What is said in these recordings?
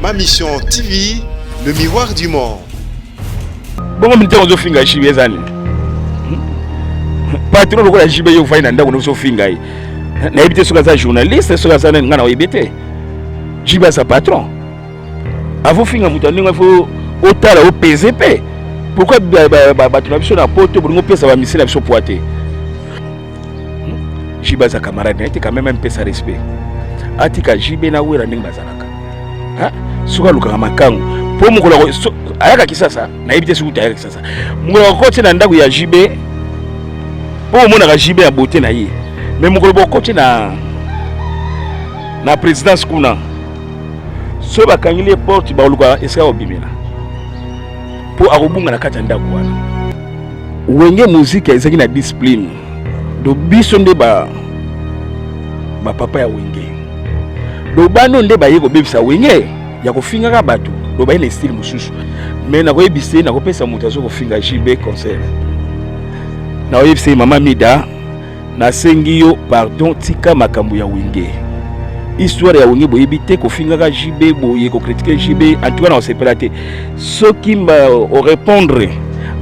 Ma Mission TV, le miroir du monde. bongo mitema ozofinga jibe eza nini patron lokola jibe yo ofai na ndako nozofinga ye nayebi te soki aza journaliste soki aza nani ngai na oyebi te jibe aza patron avofinga moto ya ndenge ifo otala opeze mpe pourkui bato na biso na poto bolingi opesa bamisili na biso pwa te jibe aza camarade na ye te quand même amipesa respect atika jibe na wera ndenge bazalaka soki alukaka makango mpo mokolo ayaka kisasa nayebi te soki ayaka kisasa mokolo akoti na ndako ya jibe mpo omonaka jibe ya bote na ye me mokolo bokoti na na présidence kuna soki bakangeli ye porte bakoluka esika kobimela mpo akobunga na kati ya ndako wana wenge muzika ezalaki na discipline do biso nde ba bapapa ya wenge do bano nde baye kobebisa wenge ya kofingaka bato do baye na estile mosusu me nakoyebisa ye nakopesa moto azo kofinga jb concert nakoyebisa ye mama mida Nasengi yo pardon, tika makambo ya wenge. Histoire ya wenge boyebi te, kofingaka JB boye, ko critiquer JB, en tout cas na osepela te. Soki mba o répondre,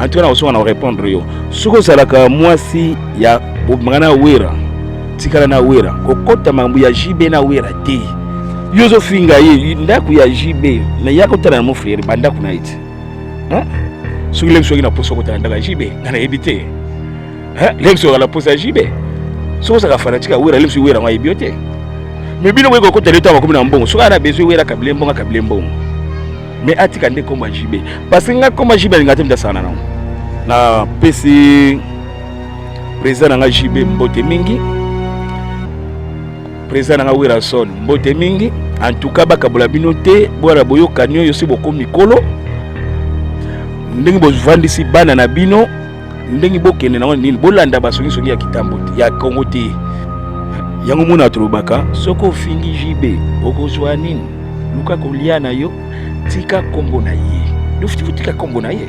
en tout cas na osonga na o répondre yo. Soki ozalaka mwasi ya bobimaka na Wera, tikala na Wera, kokota makambo ya JB na Wera te. Yo ozofinga ye ndako ya JB, na yaka otala na mon frère ba ndako na ye te. Hein? Soki lem soki na poso kotala ndako ya JB, na nayebi te. Hein, Lex oza na posa jibe. Soki ozaka fanatique ya Wera, Lex Wera ngo ayebi yo te. Mais bino boyeko kota leta bakomi na mbongo. Soki ana besoin Wera kabile mbongo kabile mbongo. Mais atika nde komba jibe. Parce que nga komba jibe alinga te mdasana nango. Na pesi président na nga jibe mbote mingi. Président na nga Wera son mbote mingi. En tout cas bakabola bino te, bwana boyokani oyo si bokomi mikolo. Ndenge bovandisi bana na bino ndenge bokende nango nini bolanda basongisongi ya kitambo ya kongo te yango mona tolobaka soki ofingi jb okozwa nini luka kolia na yo tika kombo na ye tika kombo na ye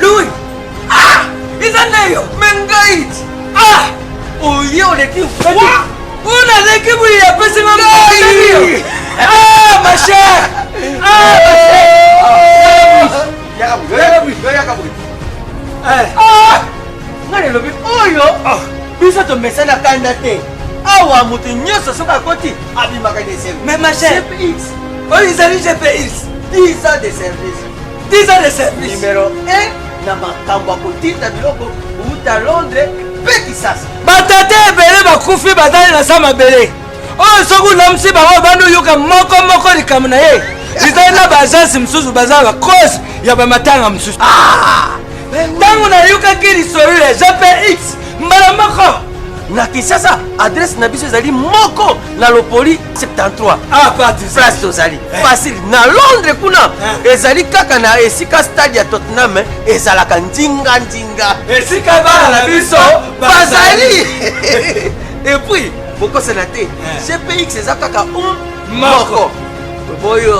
Lui ah eza nayo mengai ah oye oleki una leki buli ya pesi nga ngai ah ma chère ah ma chère yaka bui yaka bui yaka bui eh ah nga lelobi oyo ah. biso tomesana kanda te awa moto nyonso soki akoti abimaka na esengo mais ma chère oyo ezali gps 10 ans de service 10 ans de service numero 1 na makambo ya kotinda biloko kouta londres mpe kisasa batata ebele bakufi bazali na sa mabele oyo oh, soki olamisi bango obandi oyoka moko moko likambo na ye ezali na baagence mosusu baza bacause ya bamatanga mosusu ah! ntango nayokaki lisolo ya jpx mbala moko na kisasa adrese na biso ezali moko na lopoli 73 ah, place tozali eh. facile na londres kuna eh. ezali kaka na esika stade ya tottenham eh, ezalaka nzinga nzinga esika bana na biso bazali epuis bokosana te cpx eza kaka un moko boyo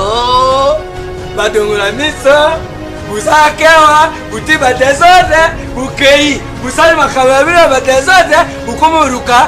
badongola miso bosala kewa bote badesordre bokei bosali makambo ya bino ya badesordre bokoma oluka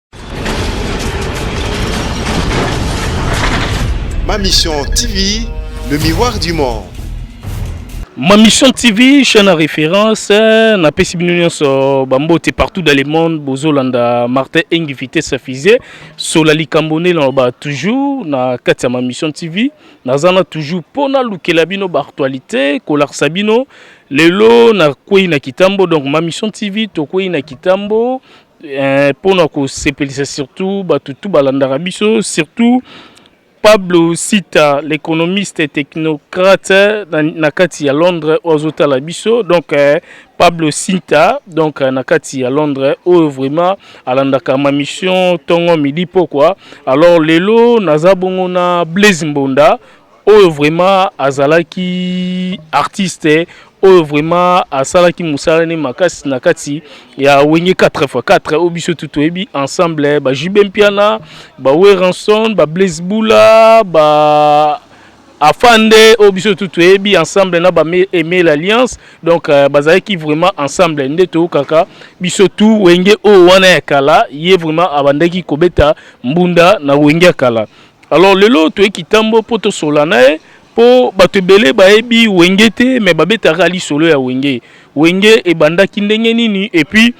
Ma Mission TV, le miroir du monde. Ma Mission TV, chaîne à référence, euh, na pesi bino nyonso bambote partout dans le monde, bozolanda Martin Engi vitesse fusée, sola likambo nde naloba toujours na kati ya Ma Mission TV, naza na toujours mpo nalukela bino baactualité, kolakisa bino lelo nakwei na kitambo, donc Ma Mission TV tokwei na kitambo, eh, mpo na kosepelisa surtout bato tu balandaka biso surtout Pablo Sita l'économiste technocrate eh, na, na kati ya Londres oyo azotala biso donc eh, Pablo Sinta donc euh, na kati ya Londres oyo vraiment alandaka ma mission tongo midi pokwa alors lelo naza bongo na Blaise Mbonda Oyo vraiment azalaki artiste oyo vraiment asalaki musala ne makasi na kati ya wenge 4x4 oyo biso tu toyebi ensemble ba jube mpiana ba weranson ba blaise bula ba afande oyo biso tu toyebi ensemble na ba emel alliance donc euh, bazalaki vraiment ensemble nde toyokaka biso tu wenge oyo wana ya kala ye vraiment abandaki kobeta mbunda na wenge ya kala Alors lelo toye kitambo mpo tosola na ye mpo bato ebele bayebi wenge te me babetaka lisolo ya wenge wenge ebandaki ndenge nini epuis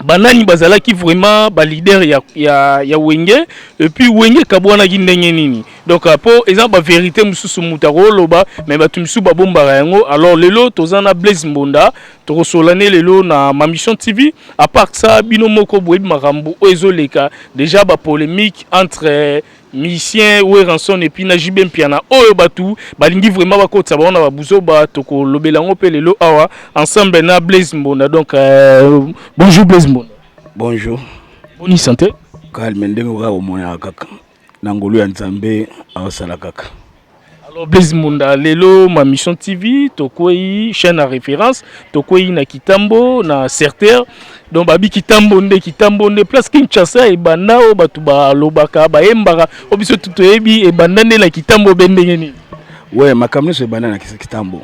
banani bazalaki vraiment baleader ya, ya, ya wenge epuis wenge ekabwanaki ndenge nini donc mpo euh, eza baverité mosusu moto akoloba me bato mosusu babombaka yango alors lelo toza na blaise mbonda Tokosolola ne lelo na Mambition TV. A part ça, bino moko boyebi makambo oyo ezoleka deja ba polemique entre musicien Werrason et puis na JB Mpiana oyo batu balingi vraiment bakotisa bango na ba buzoba tokolobela yango mpe lelo awa ensemble na Blaise Mbonda. Donc euh, bonjour Blaise Mbonda. Bonjour. Boni santé? Calme ndenge oka komona kaka. na ngolu ya nzambe aosala kaka Alors Blaise Munda, lelo ma mission TV, tokwei chaîne à référence, tokwei na Kitambo, na Certer. Donc babi Kitambo nde Kitambo nde place Kinshasa et banda o batu ba lobaka ba embaka o biso tuto ebi et banda nde na Kitambo bendenge ni. Ouais, makambo nyonso ebanda na Kitambo.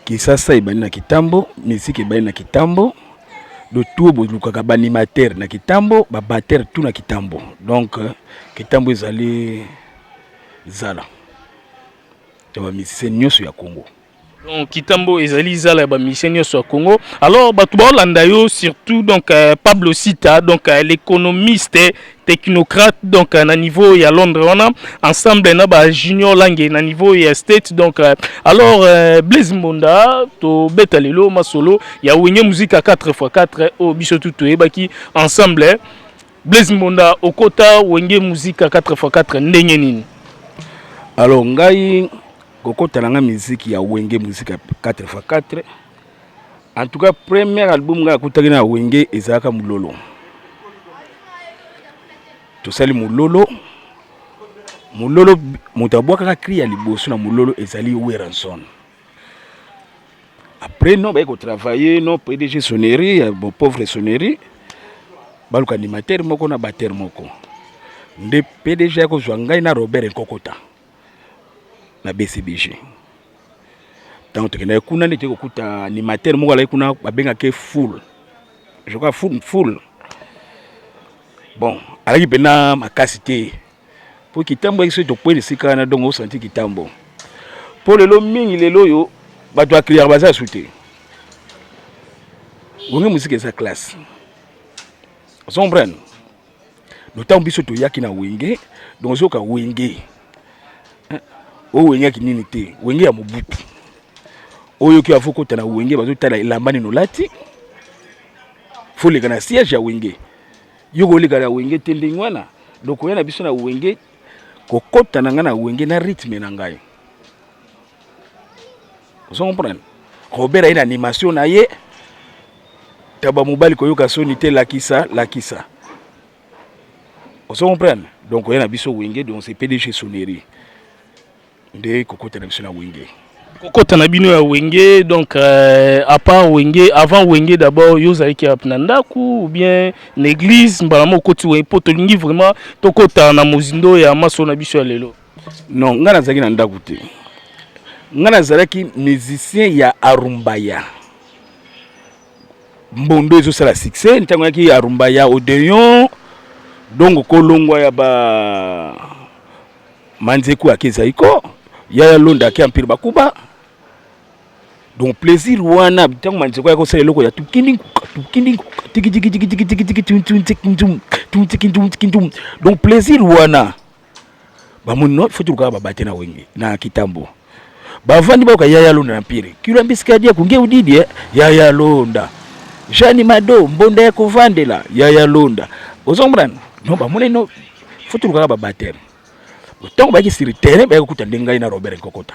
Kisasa ebandi na kitambo, musique ebandi na kitambo, le tour bolukaka ba animateur na kitambo, ba batteur tout na kitambo, donc euh, kitambo ezali zala ya ba musicien nyonso ya Congo. donc kitambo ezali zala ya bamisie nyonso ya congo alors bato baolanda yo surtout donc euh, pablo sita donc euh, l'économiste technocrate donc euh, na niveau ya Londres wana ensemble na ba junior langue na niveau ya state donc euh, alors euh, Blaise Mbonda to beta lelo masolo ya Wenge musique à 4x4 au biso tout toyebaki ensemble Blaise Mbonda okota Wenge musique à 4x4 ndenge nini alors ngai kokota na ngai musique ya Wenge musique à 4x4 En tout cas, première album nga akutaki na Wenge ezalaka Mulolo. Tosali Mulolo. Mulolo moto abwakaka cri ya liboso na Mulolo ezali Weranson. Après non baye ko travailler non PDG sonnerie ya bon pauvre sonnerie baluka animateur moko na batteur moko. Nde PDG akozwa ngai na Robert Nkokota. na bcbg ntango tokendaki kuna nde toyei kokuta animateur moko alaki kuna babengaki full je crois full full bon alaki mpenza makasi te mpo kitambo yaki soki tokweli esika wana dongo osanti kitambo mpo lelo mingi lelo oyo bato ya cliyaka baza su te bonge mosika eza classe ozo comprendre lotango biso toyaki na wenge donc ozoka wenge oyo wengaki nini te wenge ya mobutu oyo ki avokota na wenge bazotala elamba nini olati foleka na siège ya wenge yo koleka na wenge te ndenge wana donc oya na biso na wenge kokota na ngai na wenge na rythme na ngai ozo comprendre Robert aye na animation na ye taba mobali koyoka soni te lakisa lakisa ozo comprendre donc oye na biso wenge donc c'est pdg sonnerie nde kokota na biso na wenge kokota na bino ya wenge donc euh, à part wenge avant wenge d'abord yo ozalaki ape na ndako ou bien na église mbala moko okoti wenge mpo tolingi vraiment tokota na mozindo ya maso na biso ya lelo Non, nga nazalaki na ndako te. Nga nazalaki musicien ya Arumbaya. Mbondo ezosala succès ntango yaki Arumbaya Odeon donc kolongwa ya ba manzeku ake zaiko yaya londa ake empire bakuba donc plaisir wana ntango manzeko ya kosala eloko ya tukindingu tukindingu tikitikitikitikitikitikitum donc plaisir wana bamoni no futi lukaka babate na wenge na kitambo bavandi bayoka yaya londa na mpiri kilo mbisikadi akunge udidie eh. yaya londa jani mado mbonda ya kovandela yaya londa ozo comprendre no bamoni no futi lukaka babateme ntango bayaki sur terrain bayaki kokuta nde ngai na robert nkokota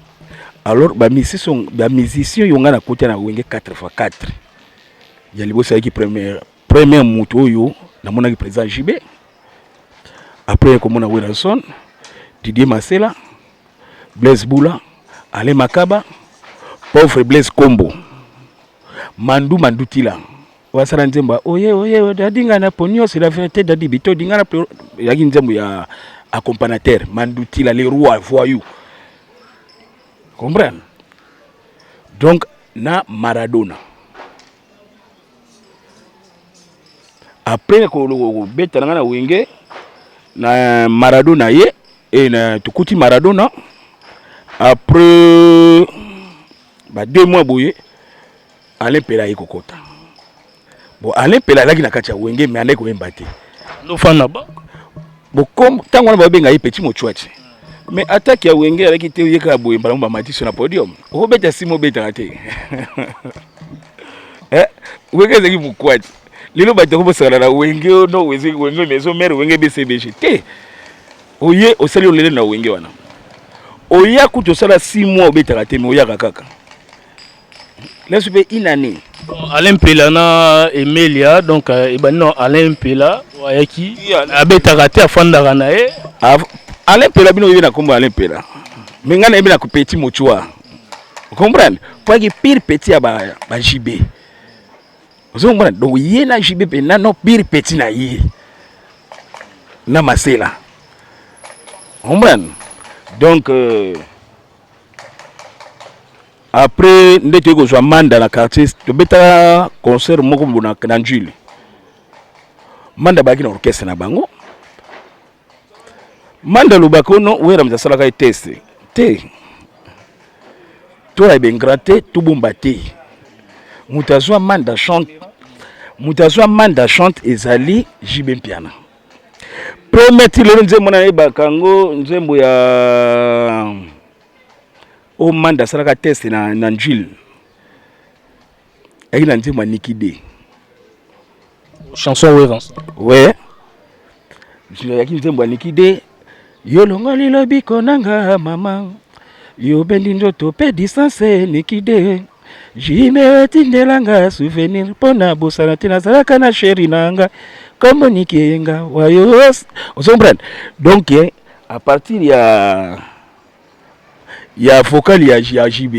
alors ba musiciens ba musiciens yo nga na kota na wenge 4 fois 4 ya liboso ayaki première première moto oyo namonaki président JB après komona Wilson Didier Masela Blaise Boula Alain Makaba pauvre Blaise Kombo Mandu Mandutila wasala nzembo ya oye oye oye, dadi nga na poni yo c'est la vérité dadi bito dinga na poni yaki nzembo ya accompagnateur mandutila le roi voyou comprendre donc na maradona après ko- ko- kobeta na ngai na wenge na maradona ye e na tokuti maradona après ba deux mois boye Alain Pela aye kokota bon Alain Pela alaki na kati ya wenge mais alaki koyemba te lofana ba bokom ntango wana babenga ye petit mochwati mais atake ya wenge alaki te oyeka ya boye mbala mo bamatiso na podium okobeta sima obetaka te eh, wenge ezalaki mokwati lelo bato yango bosakana na wenge oh, no wenge wenge maison mare wenge bcbg te oye osali olele na wenge wana oya kutu osala 6 mois obetaka te me oyaka kaka lesu mpe une année alain mpela na emelia donc euh, ebandi na alain mpela ayaki abetaka te afandaka na ye alain mpela bino oyebi na nkombo alain mpela me ngai nayebi na petit mochua comprendre mpo ayaki pire petit ya bajb ozo comprendre donc ye na jb mpe nano pire petit na ye na masela comprendre donc euh, Après nde toyei kozwa manda na quartier, tobetaka concert moko bona na njili. Manda abaki na orchestre na bango. Manda alobaka ono Werams asalaka ye test te tola ebengra te tobomba te moto azwa manda chante moto azwa manda chante ezali jibe mpiana premier ti lelo nzembo nayebaka yango nzembo ya o manda asalaka test na, na njil ayaki na nzembo ya niki de chanson werance we ayaki nzembo ya niki de yolongoli lobiko nanga mama yobendi ndoto mpe distance niki de jime etindelanga souvenir mpo na bosana te nazalaka na sheri na nga kombo niki eyenga wayo ozo comprendre donc eh, à partir ya ya vocal ya, ya JB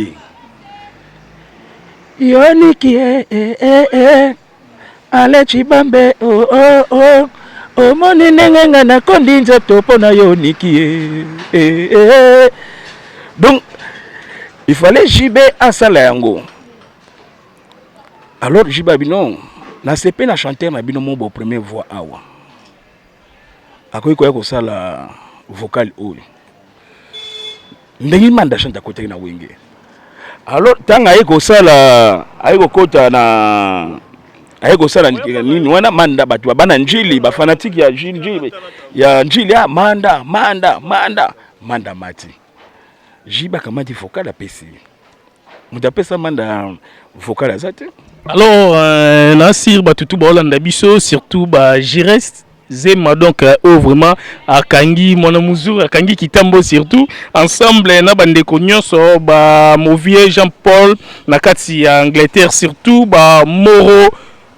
yoniki eh, eh, eh, eh. ale chibambe oh, oh, oh. omoni ndenge nga nakondi nzoto mpo na yo niki eh, eh, eh. eh. donc il fallait JB asala yango alors JB abino nasepe na chanteur na bino mo bo premier voix awa akoki koya kosala vocal oyo ndenge imanda chante akotaki na wenge alors ntango aye kosala aye kokota na aye kosala nini wana manda bato babana njili bafanatike ya njili ya njili ya ah, manda manda manda manda mati jibe akamati fokal apesi moto apesa manda vocal aza te alors euh, na sir bato tu baolanda biso surtout ba gireste zema donc euh, oyo oh, vraiment akangi mwana muzuri akangi kitambo surtout ensemble na bandeko nyonso bamovie jean paul na kati ya angleterre surtout bamoro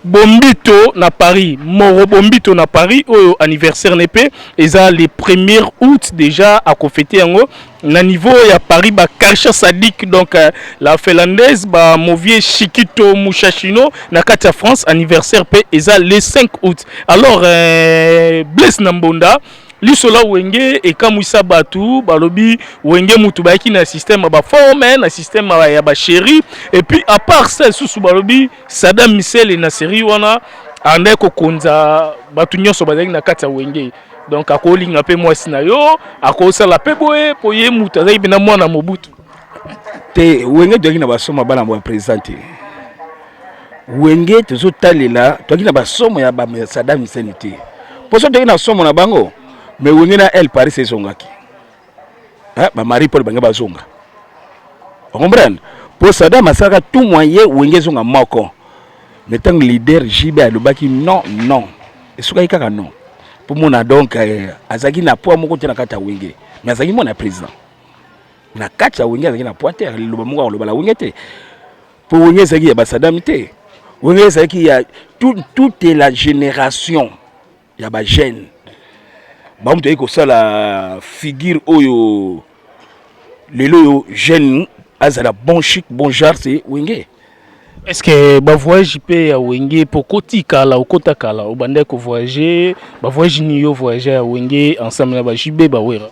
Bombito na Paris moro bombito na Paris oyo anniversaire ne pe eza le premier août déjà à fete yango na niveau ya Paris ba Karsha Sadik donc euh, la finlandaise ba Movie Shikito Mushashino na kati ya France anniversaire pe eza le 5 août alors euh, Blaise Nambonda liso la wenge ekamwisa bato balobi wenge motu bayaki na système ya baforme na système ya basheri epuis apart ça lisusu balobi Sadam Misele na serie wana andaki kokonza bato nyonso bazalaki na kati ya wenge donc akolinga mpe mwasi na yo akosala mpe boye mpo ye moto azalaki mpena mwana mobutu te wenge toyaki na basoma bana ya président te wenge tozotalela toyaki na basomo ya Sadam Misele te mpo so toyaki na somo na bango mais wenge na el paris ezongaki eh, ba marie paul bange bazonga ocomprendre mpo sadam asalaka tout moyen wenge ezonga moko me ntango leader jb alobaki non non esukaki kaka non mpo mona donc eh, azalaki na poids moko te na kati ya wenge me azalaki mwana président na kati ya wenge azalaki na poids te liloba moko akoloba na wenge te mpo wenge ezalaki ya basadam te wenge ezalaki ya toute la génération ya ba jeune bamutu ayei kosala figure oyo lelo oyo jeune azala bon chic bon genre se wenge est ce que bavoyage mpe ya wenge mpo okoti kala okota kala obandaki kovoyage bavoyage nini yo voyage ya wenge ensemble na bajube bawera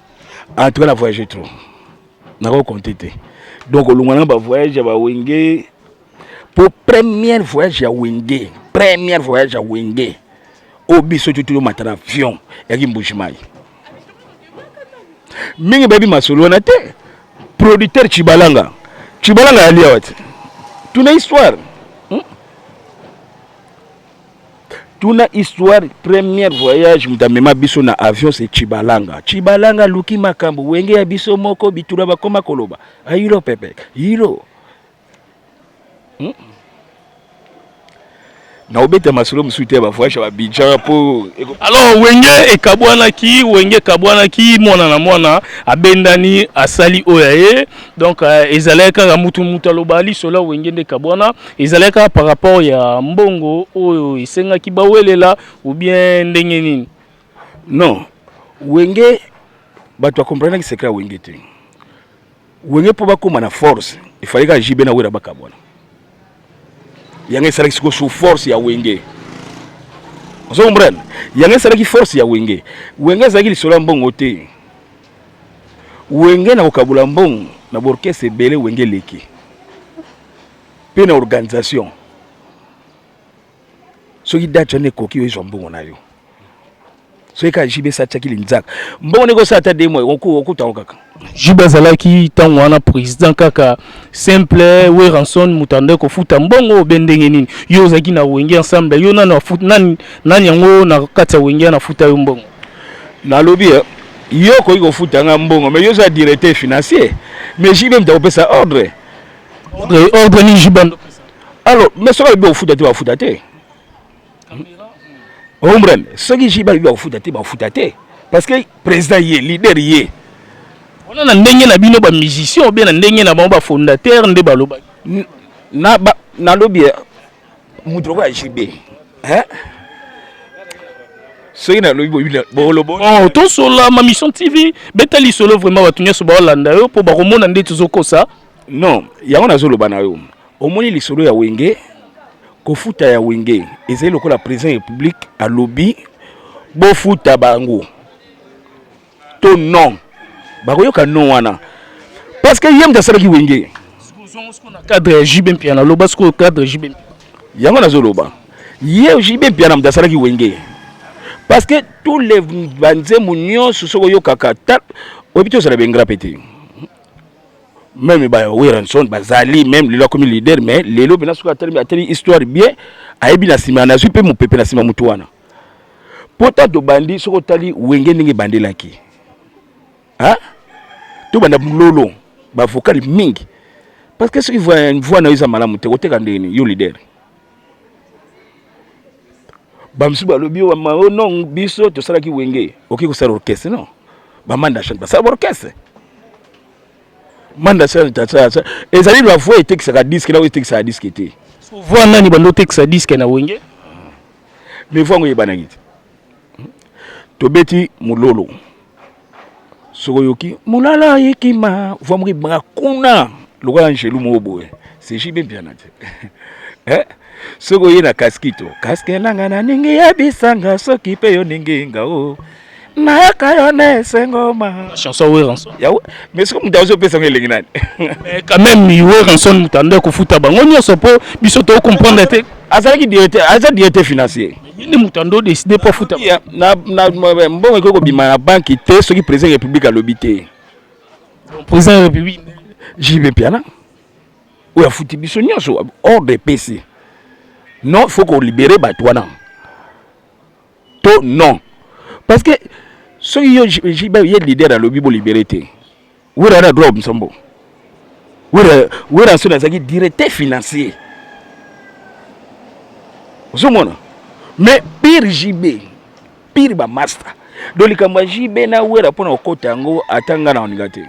en tout cas na voyage trop nakoki compte te donc olongwa na bavoyage ya bawenge po première voyage ya wenge première voyage ya wenge oyo biso tutu tomata na avion yaki mbujimayi mingi bayebi masolo wana te producteur cibalanga cibalanga yali awa te tuna histoire hmm? tuna histoire première voyage moto amema biso na avion se cibalanga cibalanga aluki makambo wenge ya biso moko bitula bakoma koloba ayilo pepe yilo hmm? na obeta masolo mosusu te ya bavoyage ya babidjan mpo alors wenge ekabwanaki wenge ekabwanaki mwana na mwana abendani asali oyo ya ye donc euh, ezalaki kaka motu motu aloba lisolo ya wenge nde ekabwana ezalaki kaka par rapport ya mbongo oyo esengaki bawelela ou bien ndenge nini non wenge bato bakomprenaki secret ya wenge te Wenge mpo bakoma na force il fallait ka JB na Wera bakabwana. Yanga esalaki siko sous force ya Wenge. Ozo comprendre? Yanga esalaki force ya Wenge. Wenge azalaki lisolo ya mbongo te. Wenge na kokabula mbongo na borkese ebele Wenge leki. Mpe na organisation. soki date wana ekoki oyezwa mbongo na yo soki kaka jbs atiaki linzaka mbongo ndenge osala ata demo okutango kaka jb azalaki ntango wana président kaka simple weranson moto andaki kofuta mbongo obe ndenge nini yo ozalaki na wenge ensemble yo nani nani nani yango na kati ya wenge anafuta yo mbongo nalobi eh, yo okoki kofuta nga mbongo mais yo oza directeur financier mais jb moto akopesa ordre ordre nini jb alors mais soki alobi bakofuta te bakofuta te ombrane soki ji balobi bakofuta te bakofuta te parce que président ye leader ye wana na ndenge na bino bamusicien obe na ndenge na bango bafondateur nde balobaki nalobi moto lokola jb soki nalobi bolobo oh, tosolama mission tv beta lisolo vraiment bato nyonso baolanda yo mpo bakomona nde tozokosa Non, yango nazoloba na yo. Omoni lisolo ya Wenge, kofuta ya Wenge ezali lokola president ya Republique alobi bofuta bango to non. Bakoyoka non wana. Parce que ye moto asalaki Wenge. Cadre ya JB Mpiana, loba sikoyo cadre JB Mpiana. Yango nazoloba. Ye JB Mpiana moto asalaki Wenge. Parce que tous les banzembo nyonso soki oyokaka ta oyebi te ozala bengra pe te. meme ba Werrason bazali meme lelo akomi leader mais lelo mpena soki atali atali histoire bien ayebi na nsima nazwi mpe mopepe na nsima motu wana mpo ta tobandi soki otali wenge ndenge ebandelaki tobanda bulolo bavokale mingi parce que soki voi na yo eza malamu te koteka ndenge nini yo leader bamosusu balobi oh non biso tosalaki wenge okoki kosala orchestre non bamanda chante basala baorchestre manda chante ezali na voi etekisaka diske na oyo etekisaka diske te voi nani bando otekisa diske na wenge mais voi yango eyebanaki te tobeti mulolo soko yoki mulala yekima voix moko ebanga kuna lokola angelu moko boye c'est JB Mpiana te eh? soki oye na kaskito kaske nanga na ningi ya bisanga soki mpe yo ningi nga o nayaka yo na esengo ma chanson weranson mais soki moto azopesa ngo elengi nani mais quand même weranson moto ando ya kofuta bango nyonso mpo biso tocomprendre te azalaki directeur aza directeur financier ye nde moto ando décide mpo afuta mbongo ekoki kobima na banki te soki président ya république alobi te président ya république jb mpiana oyo afuti biso nyonso ordre epesi non il faut kolibere bato wana to non parce que soki yo jb ye leader alobi bolibere te Wera na droit obimisa mbongo. Wera Wera Nsoni azalaki directeur financier. Ozomona? Mais pire JB, pire ba master. Donc likambo ya JB na Wera mpo na kokota yango ata ngai na oninga te.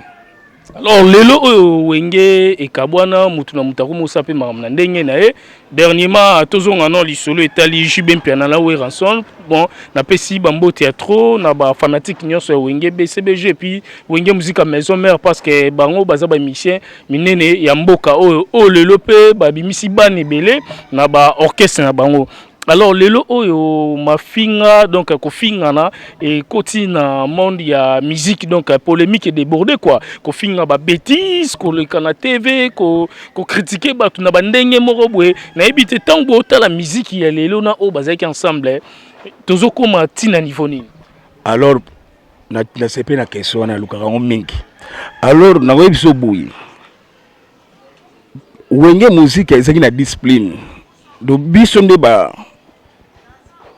Alors lelo oyo wenge ekabwana mutu na mutu akomi osala mpe makambo na ndenge na ye Dernièrement, tozonga no lisolo etali JB Mpiana na Werrason. Bon, napesi bambote ya trop na ba fanatiques nyonso ya Wenge BCBG et puis Wenge Musica Maison Mère parce que bango baza ba musiciens minene ya mboka oyo oyo lelo pe babimisi bana ebele na ba orchestre na bango. Alors lelo oyo mafinga donc kofingana ekoti na monde ya musique donc polemique débordée quoi kofinga ba bêtises koleka na TV ko ko critiquer batu na ba ndenge moko boye nayebi te ntango botala miziki ya lelo na oyo bazalaki ensemble tozokoma ti na niveau nini alors nasepe na question wana nalukaka yango mingi alors nakoyebi biso boye wenge muziki ezalaki na discipline do biso nde ba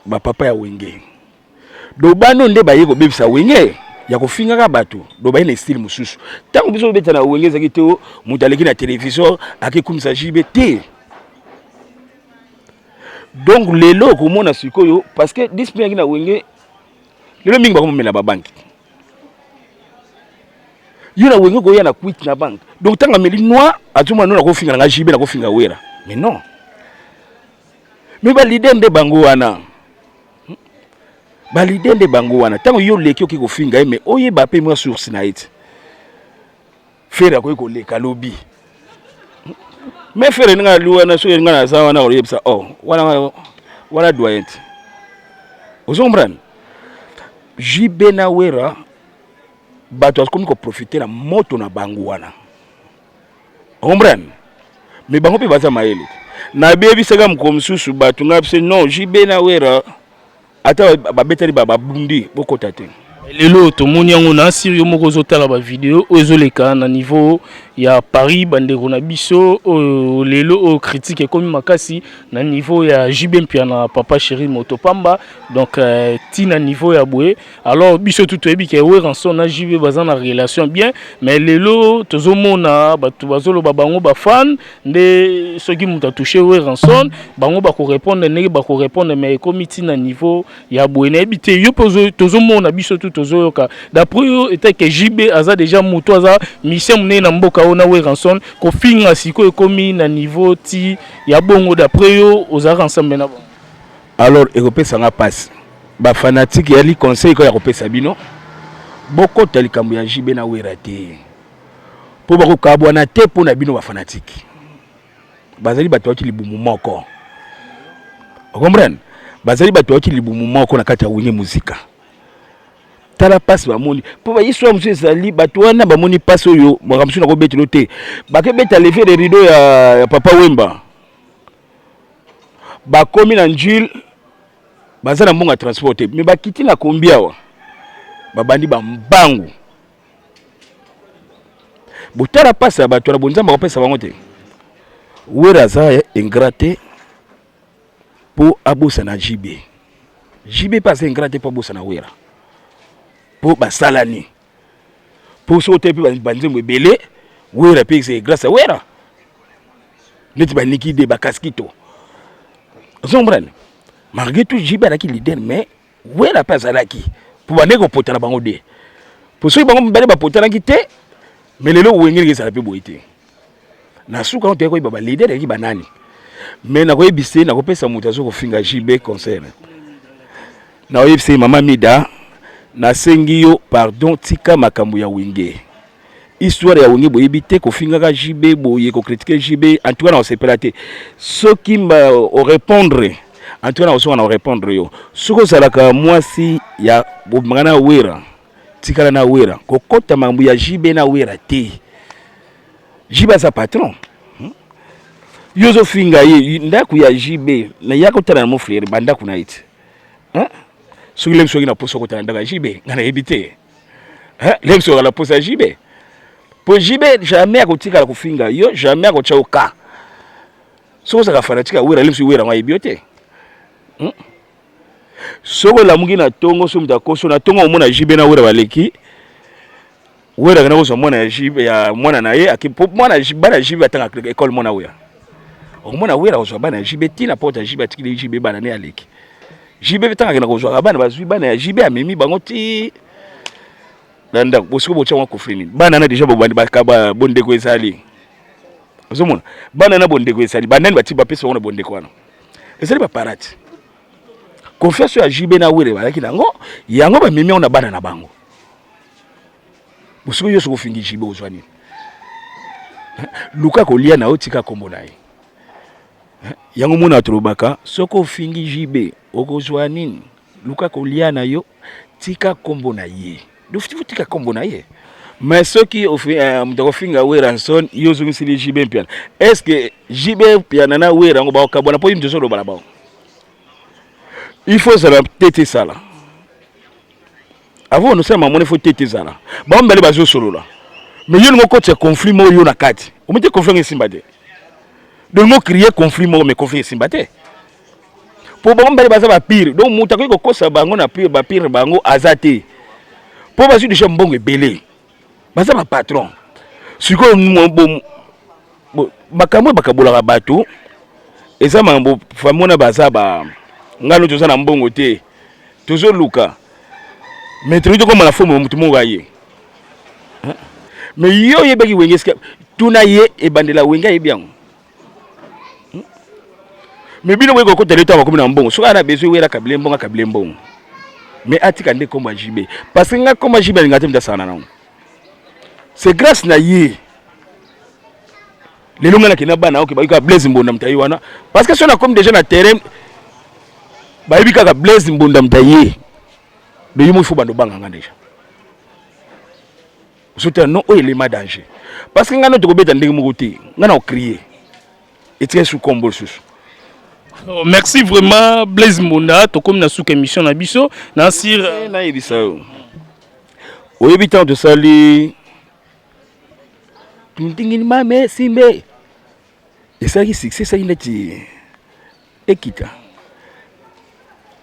bapapa ya wenge Dobano nde baye kobebisa wenge ya kofingaka bato dobaye na estile mosusu ntango biso tobeta na wenge ezalaki te oh, moto aleki na televizio akekumisa jb te donc lelo okomona sikoyo parce que discipline yaki na wenge lelo mingi bakomomela babanki yo na wenge okoya na kwiti na banke donc ntango ameli noir azomona no nakofinga na nga jb nakofinga wera mais non mais balide nde bango wana balide nde bango wana ntango yo oleki oki kofinga ye mai oyeba mpe mwa source na ye ti fere akoki koleka lobi mai fere ndenge ali wana soki ngai naza wana oyebisa o oh, wana wana doyen ti ozo comprendre jb na wera bato akomi koprofite na moto na bango wana Comprendre? Mais bango pe baza mayele. Na bebi saka mko msusu batu nga pse non JB na Wera ata ba betali ba babundi bokota te. Lelo tomoni yango na siri yo moko ozotala ba video oyo ezoleka na niveau ya Paris bandeko na biso oyo lelo oyo critique ekomi makasi na niveau ya JB Mpiana papa chéri moto pamba donc euh, ti na niveau ya boye alors biso tout toyebi ke weranson na jb baza na relation bien mais lelo tozomona bato bazoloba bango bafane nde soki moto atouche weranson bango bakorépondre ndenge bakorépondre mais ekomi ntina niveau ya boye nayebi te yo mpe tozomona biso tout tozoyoka d'après yo etai ke jb aza déjà moto aza mission monene na mboka oyo na weranson kofinga sikoyo ekomi na niveau ti ya bongo d'après yo ozalaka ensemble na bango Alors ekopesa nga pasi ba fanatique ya li conseil ko ya kopesa bino bokota likambo ya JB na Wera te mpo bakokabwana te mpo na bino ba fanatique bazali bato yaki libumu moko okomprene bazali bato yaki libumu moko na kati ya wenge muzika tala mpasi bamoni mpo bahistoire mosusu ezali bato wana bamoni mpasi oyo makambo mosusu nakobetelo te bakebeta leve de rideau ya, ya papa wemba bakomi na njule baza na mbongo ya transport te me bakiti na kombi awa babandi bambangu botala mpasi ya bato na bonzambe akopesa bango te wera aza ingrat te mpo abosana jb jb mpe aza ingrat te mpo abosana wera mpo basalani mpo soki otali mpe banzembo ebele wera mpe c'est grâce à wera neti baniki de bakaskito ozombrane malgré tout jibe alaki leader mais wera mpe azalaki mpo bandeki kopotana bango de mpo soki bango mibale bapotanaki te mais lelo wenge ndenge ezala mpe boye te na suka toyei koyeba balider eleki banani me nakoyebisa ye nakopesa moto aza kofinga jb concert nakoyebisa ye mama mida nasengi yo pardon tika makambo ya wenge histoire ya wenge boyebi te kofingaka jb boye kokritike jb antuka nakosepela te soki orepondre antuka nakosuka na orepondre yo soki ozalaka mwasi ya bobimaka na wera Tikala na Wera, kokota mambo ya JB na Wera te. JB aza patron. Hmm? Yo zo finga ye ndako ya JB na ya kotala na mon frère ba ndako na ite. Hein? Hmm? Soki lem soki na poso kotala ndako ya JB, nga na yebi te. Hein? Hmm? Lem soki na poso ya JB. Po JB jamais akotikala kofinga yo, jamais akotya yo ka. Soki ozaka fanatique ya Wera, lem soki Wera ngo ayebi yo te. Hmm? soki olamuki na tongo soki moto akoso na tongo omona JB na Wera baleki Wera akenda kozwa mwana ya JB ya mwana na ye ake po mwana bana JB atanga ekole mwana Wera omona Wera kozwa bana ya JB ti na porte ya JB atikili JB bana ne aleki JB pe tanga akenda kozwaka bana bazwi bana ya JB amemi bango ti na ndako bosiko botya mwa kofri nini bana na deja bobandi bakaba bondeko ezali ozomona bana na bondeko ezali banani bati bapesa bango na bondeko wana ezali ba parade confiance ya JB na Were balaki nango yango ba mimi na bana na bango bosiko yo soko fingi JB ozwa nini luka kolia na yo tika kombo na ye yango mona tolobaka soko ofingi JB okozwa nini luka kolia na yo tika kombo na ye dofitifu tika kombo na ye mais soki eh, moto akofinga wera nson yo ozongisili jb mpiana est ce que jb mpiana na wera yango bakokabwana mpo ye moto ozoloba na bango il faut ozala tete esala avant onosala mamona il faut tete ezala bango mibale bazosolola mais yo lingo okotisa conflit moko yo na kati omete conflit yango esimba te donc mokrie conflit moko mais conflit esimba te po bango mibale baza ba pire donc moto akoki kokosa bango na pire ba pire bango aza te po bazwi deja mbongo ebele baza ba patron sikoyo makambo oyo bakabolaka bato eza makambo fami wana baza ba ngai no toza na mbongo te tozoluka mais tokoki tokoma na fomo moto moko aye mais yo oyebaki wenge esika tuna ye ebandela wenge ayebi yango hmm? mais bino boyeko kota leta bakomi na mbongo soki ana besoin wela kabile mbongo akabile mbongo mais atika nde kombo ya jb parce que nga kombo ya jb alinga te moto asangana nango c'est grâce na ye lelo ngai nakenda bana oke bayoka blaise mbonda moto aye wana parce que soki nakomi déjà na terrain bayebi kaka blaise mbonda moto aye mais yo moko ifo bando obanga ngai déjà Zota non oyo elema danger parce que ngai no tokobeta ndenge moko te ngai na ocrie etika esu kombo lisusu oh, merci vraiment blaise mbonda tokomi na suka émission na biso na sir eh, nayebisa yo oyebi ntango tosali tuntingini mame simbe esalaki succès esalaki neti ekita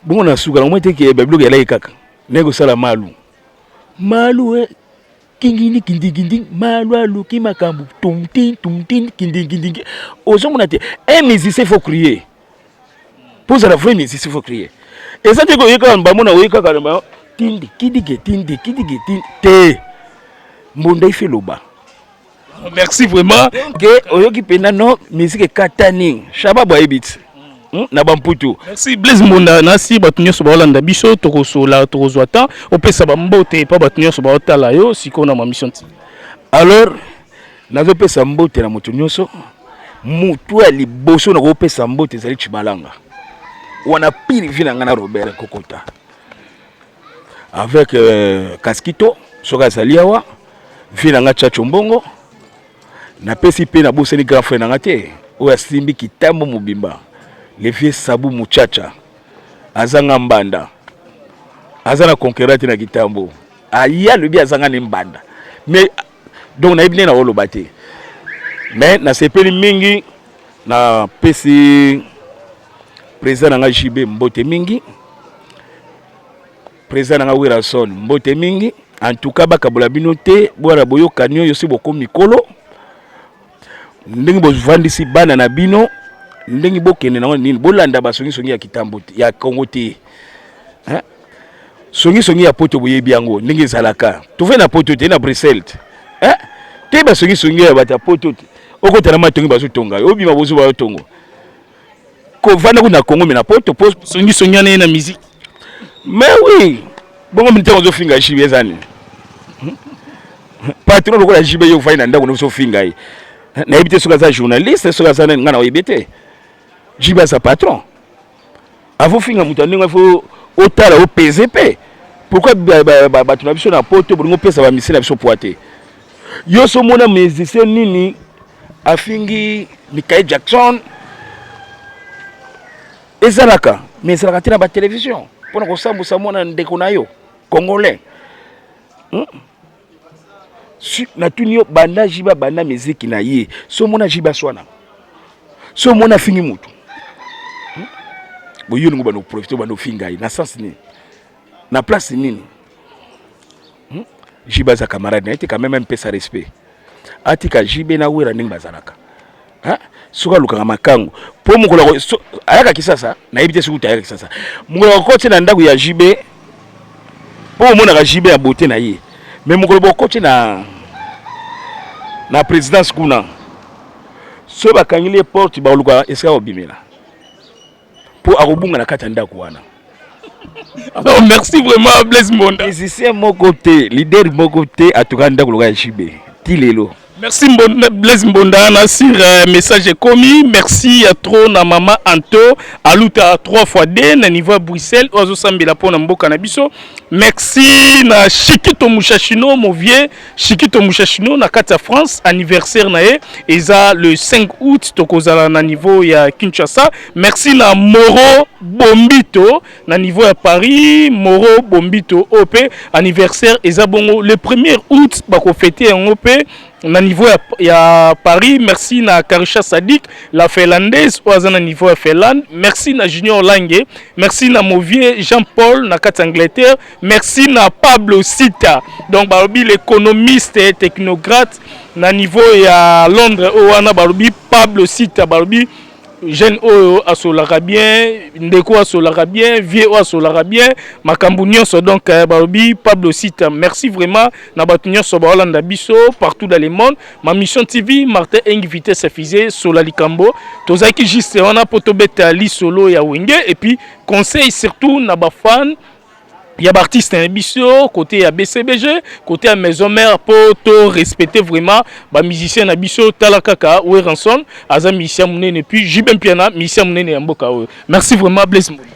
bongo na suka na moi te ke babiloko elaki kaka naye kosala malu malu eh, kingini kindinginding malu aluki makambo tumtin tumtin kindinginding ozomona te un musicien faut crier mpo ozala vrai musicien faut crier eza te koyekaka bamona oye kaka na bango tindi kidige tindi kidige tindi te mbonda ife loba merci vraiment ke oyoki mpenza no miziki ekatani shaba boyebi ti Hmm, na bamputu merci blaise mbonda nasi bato nyonso baolanda biso tokosola tokozwa temps opesa bambote epa bato nyonso baotala yo sikoyo na mamisio nti alors nazopesa mbote na moto nyonso motu ya liboso nakopesa mbote ezali cibalanga wana pire vi na ngai na robert kokota avec euh, kaskito soki azali awa vie na nga chacho mbongo napesi mpe nabosani grand frère na nga te oyo asimbi kitambo mobimba le vieux sabu muchacha azanga mbanda aza na conquerant te na kitambo aye alobi azanga ne mbanda mais donc nayebi nde naoloba te mais nasepeli mingi napesi Président na nga JB mbote mingi. Président na nga Werrason mbote mingi. En tout cas bakabola bino te bwana boyokani oyo si bokomi mikolo ndenge bovandisi bana na bino ndenge bokende nango nini bolanda basongisongi ya kitambo ya Congo te hein? songisongi ya poto boyebi yango ndenge ezalaka tofai na poto te na bruxelles te eh? te basongisongi ya bato ya poto te okota na matongi bazotonga yo obima bozuba yo tongo Ko vanda kuna na Congo mais na poto po songi songi na na musique. Mais oui, bongo mintaka ozo finga JB ezani. Patron lokola JB yo vanda ndako ozo finga ye. Na yebite soka za journaliste soka za ngana oyebite. JB za patron. Avo finga mutu ndenge il faut otala o pese pe. Pourquoi bato na biso na poto bolingo pesa ba musicien na biso poids te. Yo so mona musicien nini afingi Michael Jackson ezalaka mais ezalaka te na ba television mpona kosambusa mwana ndeko na yo congolais hmm? natuni yo banda jibe abanda miziki na ye so omona jibe aswana so omona afingi motu hmm? boye olingo banda oprofite obanda ofinga ye na sens nini na place nini hmm? jibe aza camarade na ye te quand même mpesa respect atika jibe na wera ndenge bazalaka Hein? Soki alukaka makangu po mokolo ako- so- ayaka kisasa nayebi te soki uta ayaka kisasa mokolo akokoti na ndako ya jb po omonaka jb ya bote na ye me mokolo bokoti na na présidence kuna soki bakangeli ye porte bakoluka esika kobimela mpo akobunga na kati ya ndako wana alors merci vraiment blaise mbonda musicien moko te leader moko te atuka ndako loka ya jb ti lelo merci mbonda, blaise mbonda na sur euh, message ekomi merci ya trop na mama anto aluta 3 fois d na niveau ya bruxelles oyo azosambela mpo na mboka na biso merci na shikito mushashino movie Chikito Mushashino na kati ya France anniversaire na ye eza le 5 août tokozala na niveau ya Kinshasa. Merci na Moro Bombito na niveau ya Paris. Moro Bombito OP anniversaire eza bongo le 1er août bako fêter yango pe na niveau ya, ya Paris. Merci na Karisha Sadik la finlandaise oyo aza na niveau ya Finlande. Merci na Junior Lange. Merci na Movie Jean-Paul na kati ya Angleterre. Merci na Pablo Sita. Donc balobi l'économiste et technocrate na niveau ya Londres oyo wana balobi Pablo Sita balobi jeune oyo asolaka bien ndeko asolaka bien vieux oyo asolaka bien makambo nyonso donc euh, balobi pablo sita merci vraiment na bato nyonso baolanda biso partout dans le monde ma mission tv martin engi vitesse fise sola likambo tozalaki juste wana mpo tobeta lisolo ya wenge et puis conseil surtout na bafane Il y a artiste hein, biso côté ya BCBG, côté ya maison mère pour to respecter vraiment ba musiciens na biso tala kaka Weranson, aza musicien munene puis JB Mpiana musicien munene ya mboka oyo. Merci vraiment Blaise Mboma.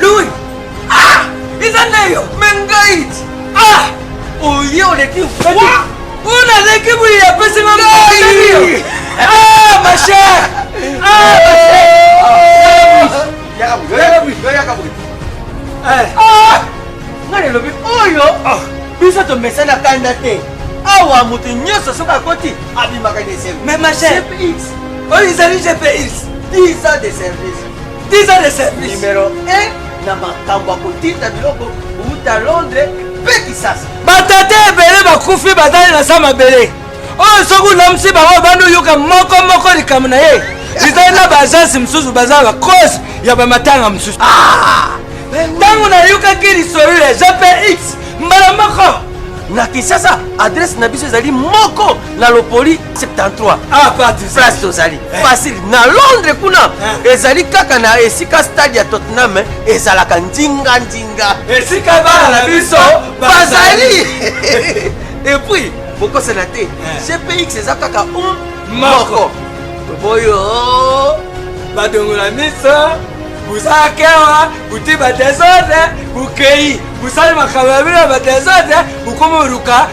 Lui Ah Eza nayo Mengait Ah Oye oleki Wa Una leki muli ya pesi nga Ngai Ah ma chère Ah ma chère Yaka bouy Yaka bouy Yaka bouy Eh Ah Nga lelobi oyo ah. Biso tomesana kanda te awa moto nyonso soki akoti abimaka na esengo mais ma chère oyo ezali gps 10 ans de service 10 ans de service numero 1 na makambo ya kotinda biloko kouta londres mpe kisasa batata ebele bakufi bazali na sa mabele oyo soki olamisi bango obandi oyoka moko moko likambo na ye ezali na baagence mosusu baza bakosi ya bamatanga mosusu ah! ntango nayokaki lisolo ya jpx mbala moko na kisasa adrese na biso ezali moko na lopoli 73 ah, place tozali eh. facile na londres kuna eh. ezali kaka na esika stade ya tottenham eh, ezalaka nzinga nzinga esika bana na biso bazali epuis bokosana te cpx eza kaka um moko toboyo badongola miso bosala kewa bote badesordre bokei bosali makambo ya bino ya badesordre bokoma oluka